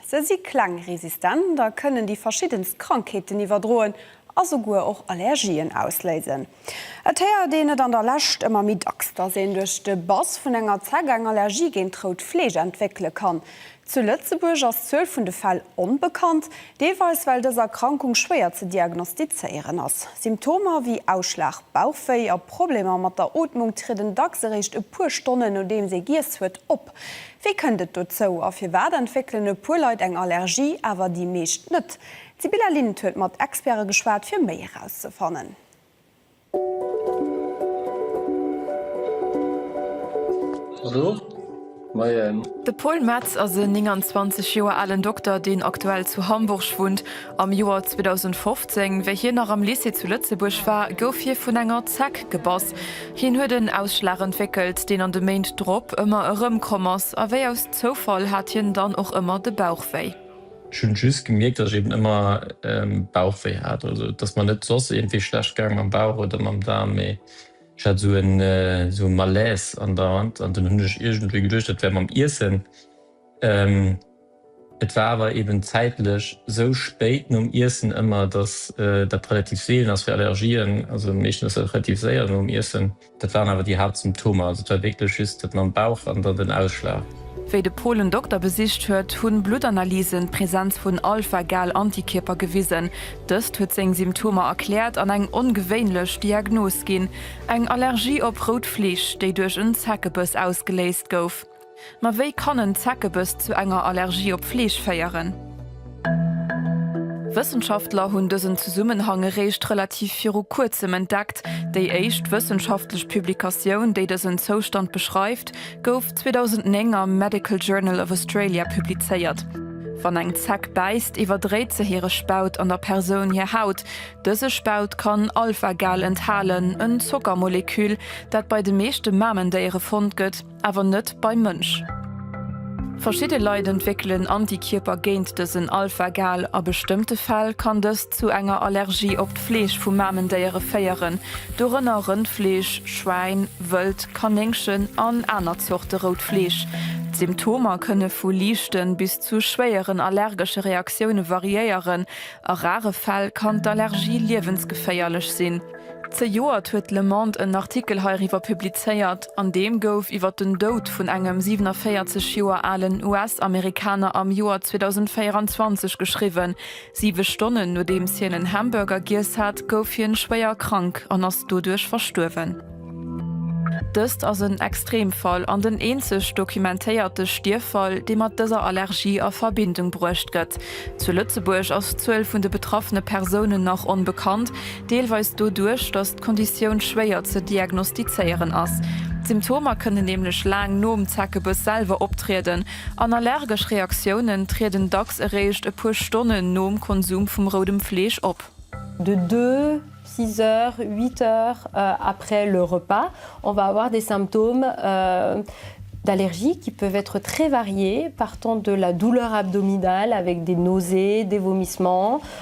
Se si kleng, resistent a kënnen déi verschiddenst Krankheeten iwwerdroen a souguer och Allergien ausléisen. Et héiert een et an der Lescht ëmmer méi dacks, dass een duerch de Bass vun enger Zeck eng Allergie géint rout Fleesch entwéckele kann. Zu Lëtzebuerg ass d'Zuel vun de Fäll onbekannt, deelweis well dës Erkrankung schwéier ze diagnostizéieren ass. Symptomer wéi Ausschlag, Bauchwéi a Problemer mat der Ootmung trieden dacks eréischt e puer Stonnen nodeems ee giess huet op. Wéi kënnt et dozou a firwat entwéckelen e puer Leit eng Allergie, awer déi meescht net? D'Sibylla Lind huet mat Experte geschwat, fir méi erauszefannen. De Paul Metz ass e 29 Joer alen Dokter, deen aktuell zu Hamburg wunnt Am Joer 2015, wéi hien nach am Lycée zu Lëtzebuerg war, gouf hie vun enger Zeck gebass. Hien huet en Ausschlag entwéckelt, deen an de Méint drop ëmmer erëmkomm ass, a wéi aus Zoufall hat hien dann och ëmmer de Bauch wéi. Ech hunn just gemierkt, dass ech eben ëmmer Bauch wéi hat. Also et ass mer net soss iergendwéi schlecht gaang mam Bauch oder mam Daarm, mee ech hat esou e Malaise andauernd. An dunn hunn ech iergendwéi geduecht, dat wär mam Iessen. Et war awer eben zäitlech sou spéit nom Iessen ëmmer, dass dat relativ seelen ass fir Allergien. Also meeschtens ass dat relativ séier nom Iessen. Dat waren awer déi Haaptsymptomer. Also et war wierklech just dat mam Bauch an dann den Ausschlag. Wéi de Paul en Dokter besicht huet, hunn Bluttanalysen d'Präsenz vun Alpha-Gal-Antikierper gewisen. Dëst huet seng Symptomer erkläert an eng ongewéinlech Diagnos ginn, eng Allergie op rout Fleesch, déi duerch en Zeckebiss ausgeléist gouf. Ma wéi kann en Zeckebiss zu enger Allergie op Fleesch féieren? Wëssenschaftler hunn dësen Zesummenhang eréischt relativ viru kuerzem entdeckt. Déi éischt wëssenschaftlech Publikatioun, déi dësen Zoustand beschreift, gouf 2009 am Medical Journal of Australia publizéiert. Wann eng Zeck bäisst, iwwerdréit se hire Spaut an der Persoun hir Haut. Dëse Spaut kann Alpha-Gal enthalen, en Zockermoleküll, dat bei de meeschte Mamendéiere fonnt gëtt. awer net beim Mënsch. Verschidde Leit entwéckelen Antikierper géint dësen Alpha-Gal. A bestëmmte Fäll kann dëst zu enger Allergie op d'Fleesch vu Mamendéiere féieren, dorënner Rëndfleesch, Schwäin, Wëld, Kanéngchen an aner Zorte rout Fleesch. D'Symptomer kënne vu liichte bis zu schwéieren allergesche Reaktioune variéieren. A rare Fäll kann d'Allergie liewensgeféierlech sinn. Zejoert huet d'Le Monde en Artikel heiriwwer publizéiert, an deem gouf iwwer den Doud vun engem 47 Joer alen US-Amerikaner am Joer 2024 geschriwwen. Siwe Stonnen nodeems hien en Hamburger giess hat, gouf hien schwéier krank an ass doduerch verstuerwen. Dëst ass en Extremfall an den eenzeg dokumentéierte Stierffall, dee mat dëser Allergie a Verbindung bruecht gëtt. Zu Lëtzebuerg ass d'Zuel vun de betraffene Persounen nach onbekannt. Deelweis doduerch, datt d'Konditioun schwéier ze diagnostizéieren ass. D'Symptomer kënnen nämlech laang nom Zeckebiss selwer optrieden an allergesch Reaktiounen trieden dacks eréischt e puer Stonnen nom Konsum vum roudem Fleesch op. De deux, six heures, huit heures après le repas, on va avoir des symptômes d'allergie qui peuvent être très variés, partant de la douleur abdominale avec des nausées, des vomissements,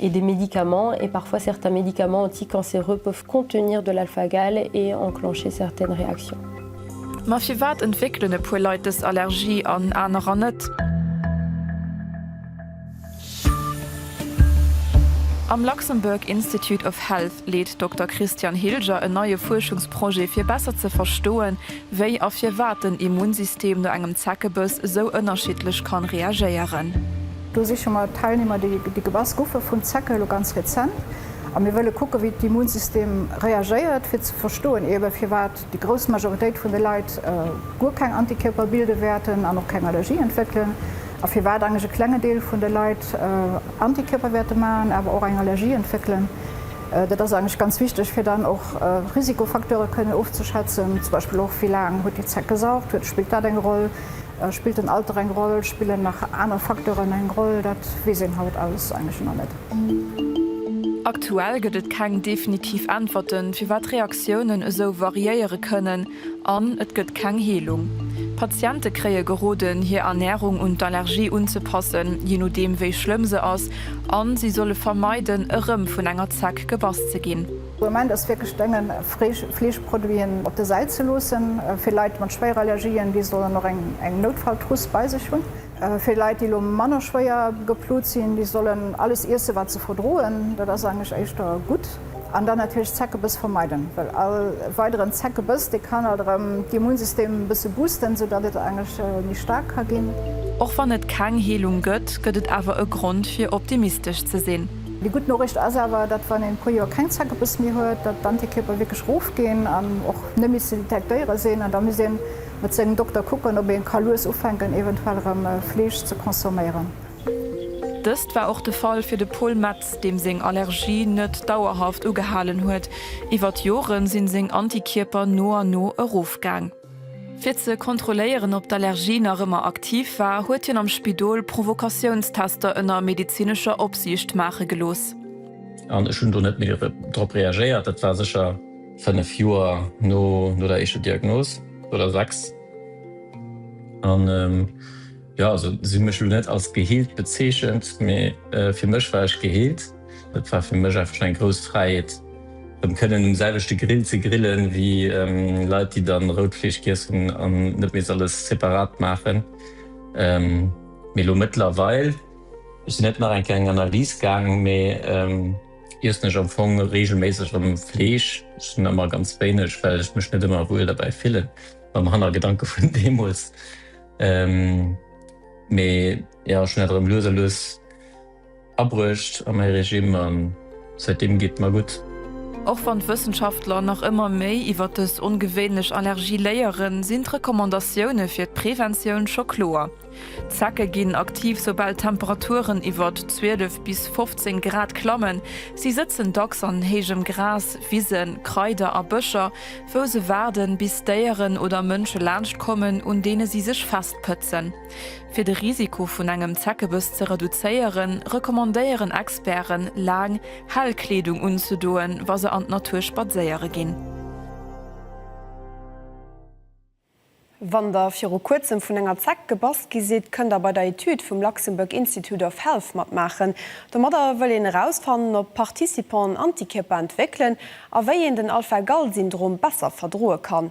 et des médicaments et parfois certains médicaments anticancéreux peuvent contenir de l'alpha-Gal et enclencher certaines réactions. Ma firwat entwéckelen e puer Leit dës Allergie an anerer net? Am Luxembourg Institute of Health leet Dokter Christian Hilger en neie Fuerschungsprojet fir besser ze verstoen, wéi a firwat den Immunsystem no engem Zeckebëss esou ënnerschiddlech kann reagéieren. Do siche mer Teilnehmer, déi gebass goufe vun Zecke, elo ganz rezent. A mir wëlle kucken, wéi d'Immunsystem reagéiert, fir ze verstoen eebe firwat déi grouss Majoritéit vun de Leit guer keng Antikierper bilde wäerten an och keng Allergie entwéckelen, a firwat eigentlech e klenge Deel vun de Leit Antikierper wäerte maachen, awer och eng Allergie entwéckelen. Dat ass eigentlech ganz wichteg, fir dann och Risikofacteure kënnen ofzeschätzen, zum Beispill och, wéi laang huet déi Zeck gesaugt, spillt dat eng Roll? Spillt den Alter eng Roll? Spillen nach aner Facteuren eng Roll? Dat weess een haut alles eigentlech nach net. Aktuell gëtt et keng definitiv Äntwerten, firwat Reaktiounen esou variéiere kënnen, an et gëtt keng Heelung. Patiente kréie geroden, hir Ernärung un d'Allergie unzepassen, jee nodeem wéi schlëmm se ass, a si solle vermeiden, erëm vun enger Zeck gebass ze ginn. De Moment ass wierklech drénge Fleeschproduiten op der Säit ze loossen. Fir Leit mat Schwéierallergien, déi sollen och eng Noutfalltruss bei sech hunn. Fir Leit, déi elo manner schwéier geplut sinn, déi sollen alles iessen, wat se verdroen. Dat ass eigentlech éischter gutt. An dann natierlech Zeckebiss vermeiden, well all weideren Zeckebiss, dee kann alt erëm d'Immunsystem e bësse boosten, sou datt et eigentlech méi staark ka ginn. Och wann et keng Heelung gëtt, gëtt et awer e Grond fir optimistesch ze sinn. Déi gutt Noriicht ass awer, datt wann een e puer Joer keng Zeckebiss méi huet, datt d'Antikierper wierklech erofginn an och net méi ze detektéiere sinn. An da misst ee mat sengem Dokter kucken, ob ee ka lues ufänken eventuell erëm Fleesch ze consomméieren. Dëst war och de Fall fir de Paul Metz, deem seng Allergie net dauerhaft ugehalen huet. Iwwer d'Jore sinn seng Antikierper no an no erofgaang. Fir ze kontrolléieren, ob d'Allergie nach ëmmer aktiv war, huet hien am Spidol Provokatiounstester ënner medezinescher Opsiicht maache gelooss. An ech hunn do net méi drop reagéiert. Dat war sécher fënnef Joer no der éischter Diagnos, oder sechs. An jo, se hu mech elo net als geheelt bezeechent, mee fir mech war ech geheelt. Et war fir mech einfach eng grouss Fräiheet rëm kënnen um selwechte Grill ze grillen wéi Leit déi dann rout Fleesch giess hunn an net misst alles separat maachen. Mee elo mëttlerweil, ech sinn net nach eng Kéier eng Analys gaang, mee iessen ech am Fong reegelméisseg rëm Fleesch. Ech hunn ëmmer ganz wéineg, well ech mech net ëmmer wuel derbäi fillen, mam Hannergedanke vun deemools. Mee jo, ech hunn dat erëm lues a lues Abruecht a mäi Regime a säitdeem geet mer gutt. Och wann d'Wëssenschaftler nach ëmmer méi iwwer dës ongewéinlech Allergie léieren, sinn d'Recommandatioune fir d'Preventioun scho kloer. D'Zecke ginn aktiv, soubal d'Temperaturen iwwert 12 bis 15 Grad klammen. Si sëtzen dacks an héijem Gras, Wisen, Kraider a Bëscher, wou se waarden, bis Déieren oder Mënsche laanscht kommen, un deene si sech festpëtzen. Fir de Risiko vun engem Zeckebëss ze reduzéieren, recommandéieren Experten, laang, hell Kleedung unzedoen, wa se an d'Natur spadséiere ginn. Wann der viru kuerzem vun enger Zeck gebass gi sidd, kënnt der bei der Etüd vum Luxembourg Institute of Health matmaachen. Domadder wëll een erausfannen, ob d'Participanten Antikierper entwéckelen a wéi een den Alpha-Gal-Syndrom besser verdroe kann.